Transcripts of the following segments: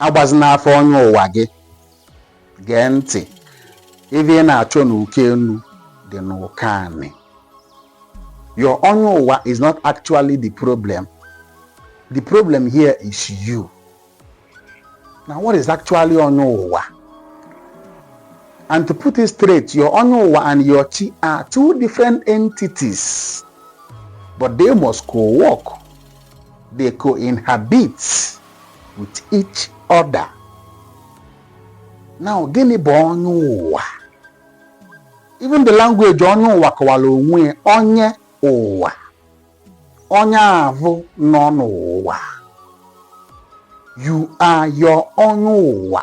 agbazina afa onye ụwa gị gee ntị ife ị na-achọ n'uko enu dị n'uko anị your onye ụwa is not actually the problem the problem here is you now what is actually onye ụwa and to put it straight your onye ụwa and your chi are two different entities but they must co-work they co-inhabit with each other now gịnị bụ onye ụwa even the language onye ụwa kọwara onwe ya onye ụwa onye avụ nọ n'ụwa you are your onye ụwa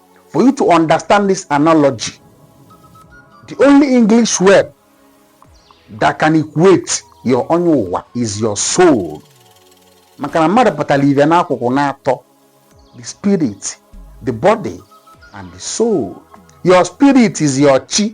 for you to understand this analogy, the only English word that can equate your onye ụwa is your soul. Maka na mmadụ pụtara ive n'akụkụ naatọ the spirit, the body, and the soul. Your spirit is your chi.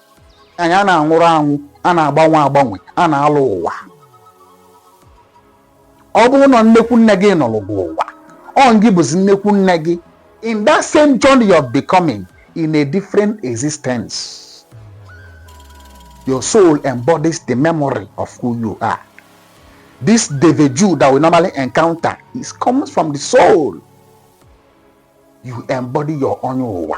anyị a na-anwụrụ anwụ a na-agbanwe agbanwe a na-alọ ụwa ọ bụrụ na nnekwu nne gị nọlụ gị ụwa ọ gị bụzi nnekwu nne gị in that same journey of becoming in a different existence your soul embodies the memory of who you are this déjà vu that we normally encounter it comes from the soul you embody your onye ụwa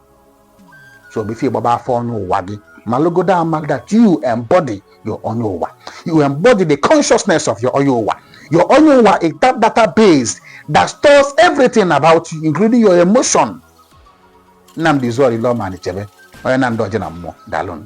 so before ị gbaba afa onye ụwa gị malụgodu amalụ that you embody your onye ụwa you embody the consciousness of your onye ụwa your onye ụwa is that database that stores everything about you including your emotion Nnamdi Zụọrọ Ile Ọma Anichebe onye na ndị oje na mmụọ daalụnụ